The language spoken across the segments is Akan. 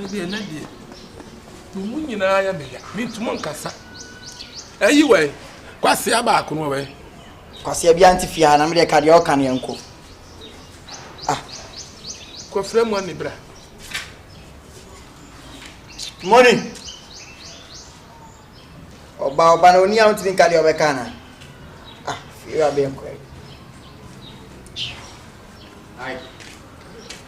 Me deɛ ɛnɛ deɛ emu nyinaa yɛ me ya mentumi nkasa ɛyi wɛ kwasia baako no wɛ. kwasia bi ante fie ha na me deɛ ka deɛ ɔka no yɛnko ah. kɔfrɛ mu ani bra mɔni ɔba ɔba na onia wotumi nka deɛ ɔbɛka na ah fie wa bɛnkɔ Ai.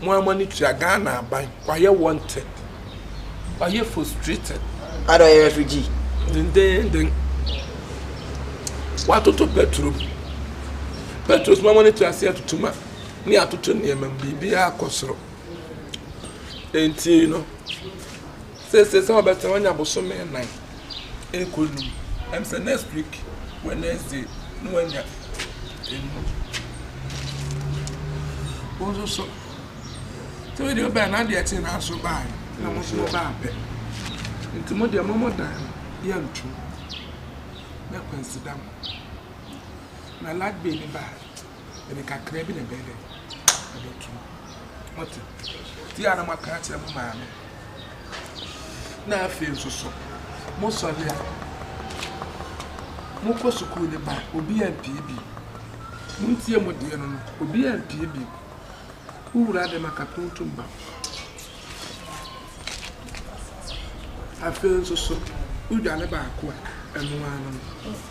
mo ara mo ani tua Ghana aban wayɛ wanted wayɛ frustrated. Ada ɔyɛ refugee. Dendeenden watoto petro mu petro so mo ara mo ani tua ase atutu ma ne atoto nneɛma mu biribiara kɔ soro enti no. Seesei sɛ ɔbɛtena hɔ anya bosome nnan rekɔ num, ɛm sɛ next week Wednesday na wanya num. Wo nso so, sɛ wei deɛ wobɛn na adeɛ kye na nso baeɛ na mo nso mo baa pɛ. Nti mo deɛ mo mo dan no yɛntom na Kwansi da mo. Na Lagbeni baa. ɛde kakra bi na ɛbɛyɛ dɛ ɛbɛto ɔte ti a na mo aka akyerɛ mo maame na afei nso so mo sɔre a mo kɔ sukuu ne ba obi a mpie bi mo ntie mo deɛ no no obi a mpie bi wowura dɛm akakuntum ba afei nso so wodwane baako a ɛno ano no.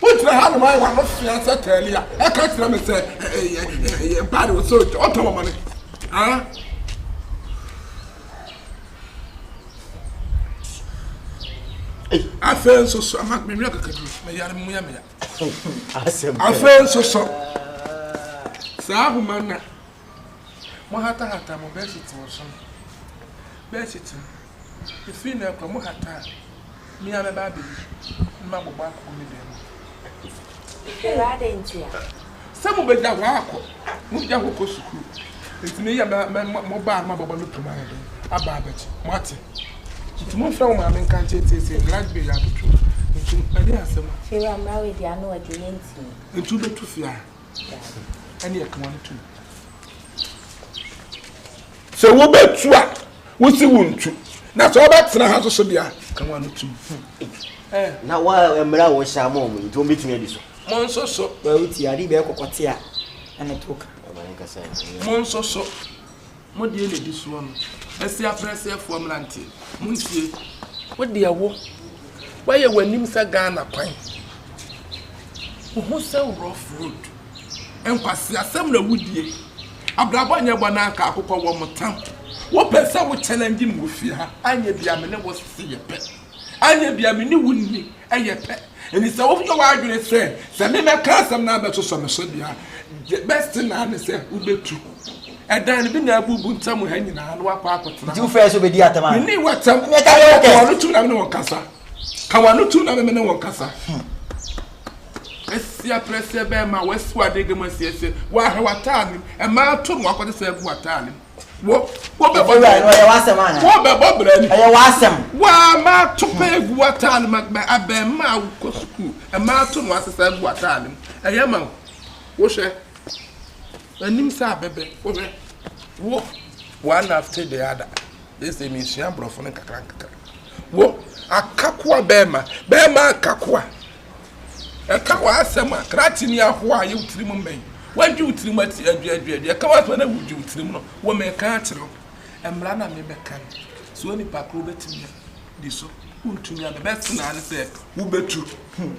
Wogyina hanom ayɛ wɔn ano fea sɛ Taalia. Ɛka kyerɛ me sɛ ɛyɛ ɛyɛ mpaade wɔ sɛ ɔtɔ wɔn mane. Afei nso so ama mewia kakadu meyare mu yɛ meya. Afei nso so saa ahoma na mo hatahata mo bɛɛhyɛ ti wɔ so no bɛɛhyɛ ti no. Efiri nnɛ rekɔ, mo hata a, me ara mɛba abɛyi, na mabobɔ akɔ me dan mu. Hwɛ! Adɛn ntia? Sɛ mobɛgya hɔ akɔ, mogya hɔ kɔ sukuu. Enti me yɛ mɛ, mo ba a na mabobɔ no tom ayɛ dɛn aba abɛgye? Moate? Enti momfrɛ mo maame nka nkyerɛ seesei, Gladys bɛyi abɛtwam. Enti ɛdeɛn asɛm a. Fie wura, mmara wei deɛ, ano ɔden, yɛntumi. Enti wobɛtu fie a? Sɛ wobɛtu a, wosi wo ntu, na sɛ wobɛtena ha nso so deɛ a, ka wɔn ano tom. Na wa mmerɛ a wɔhyɛ ama wɔn yi nti wɔbɛtumi adi so. Mo nso so. Wɔawo ti ade bɛyɛ kɔkɔte a ɛne to ka. Mo nso so. Mo deɛ na ɛdi soɔ no. Asia Brɛsɛfoɔ mmeranteɛ, montie. Wo deɛ wo, woayɛ w'anim sɛ Ghana kwan. Wo ho sɛ rough road. Nkwaseasɛm na wodie. Abrabɔ nyɛ bɔ na anka akokɔ wɔ mo tam. Wopɛ sɛ wo challenge me wɔ fie ha, anyɛ bia me ne wo sese yɛ pɛ. Anyɛ bia me ne wo nni. yɛ pɛ. Enti sɛ woyɛ w'adwene sɛ, sɛ me mɛka asɛm na abɛsosɔ me so deɛ a, the best thing ara ne sɛ wobɛtu dan no bi na abubu ntam ha nyinaa na woakɔ akɔtena Nti wo hɔ. frɛ sɛ ɔbɛdi atɛm a? Menni w'atɛm. Ɛnneɛ ka Ɛyɛ wo, ka w'ano tum na me ne wo nkasa. Ka w'ano tum na me me ne wo nkasa. Asia prɛseɛ bɛrima, w'asiwadeɛ gam asiasia, woahɛ w'ataade mu, mmaa atom, woakɔte sɛ agu w'ataade mu. Wɔ wɔ bɛ bɔ Ewura brɛ no ɛyɛ w'asɛm anaa? Wɔ bɛ bɔ brɛ ni. Ɛyɛ w'asɛm. Waa mmaa to pɛ egu w'ataade mu mɛ abɛɛmaa a wokɔ sukuu mmaa to no asesa gu w'ataade mu ɛyɛ ma wo wohwɛ anim sɛ abɛbɛ wohwɛ wo one after the other gye sɛ mesua aborɔfo no nkakra nkakra wo akakoa bɛɛma bɛɛma akakoa. Ɛka w'asɛm a, krakye ne ahoa a ɛyɛ wo tirim mmɛn. Woadwi wo tirim ati adwiadwiadwi. Ɛka w'asɛm a na wudwi wo tirim no, wo meka akyerɛ wo. Mmara na mebɛka no. So onipa koro bɛtumi adi so? Wontumi. Ade bɛso no ara ne sɛ wobɛtu hu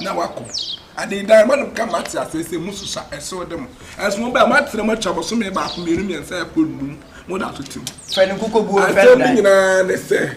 na woakɔ. Ade dan ma no ka mate aseɛ sɛ mosusa ɛso de mo. Ɛso mo bɛn? Moatena mu atwa bosome baako, mmienu, mmiɛnsa ɛkɔ nnum. Moda so te mu. Asɛm no nyinaa ne sɛ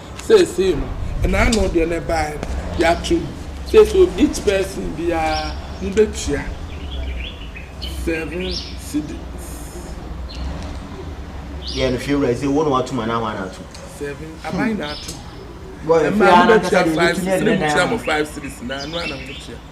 Seesei no, ɛna ano deɛ na ɛbaeɛ no, yɛato mu. Seesei o, each person biara, mobɛtua seven cedis. Yɛ no hwɛ wura yi sɛ wo na watum anaa hwan na atum. Seven, aban hmm. na atum. Ɛmaa mobɛtua five cedis, ne motua mo five cedis na ano ana mobɛtua.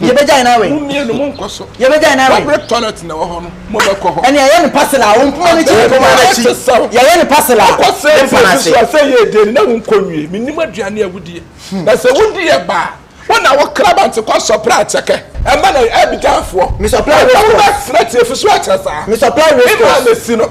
yɛbɛgyae no awɛn. Mummienu monkɔ so. Yɛbɛgyae no awɛn. Kɔbere toilet na ɛwɔ hɔ no, mobɛkɔ hɔ. Ɛnna yɛyɛ no parcel a, wɔn mpoma no akyi yɛn mpoma no akyi. Yɛyɛ no parcel a, yɛn mpa no ase. Sɛ ɛyɛ edin no, na wonkɔ nwie. Mennim aduane a wodie. Na sɛ wodi ɛba a, wo na wo krabante kɔ sɔpere akyɛkɛ. Ɛmma na Abidjanfoɔ. Me sɔpere awɛn kɔ. Ɛmma wo bɛ srɛ tiefo so akyɛ saa. Me sɔpere awɛn kɔ. Ɛmma na si no.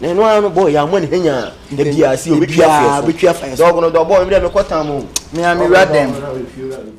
Na ɛno ara no bɔɔ yɛ amɔ ne ha nyaa da biara sɛ ɔbɛtwi afeɛ so. Dɔɔgo no dɔɔbɔɔ me dɛ mekɔ tam o. Me a mewura dɛm.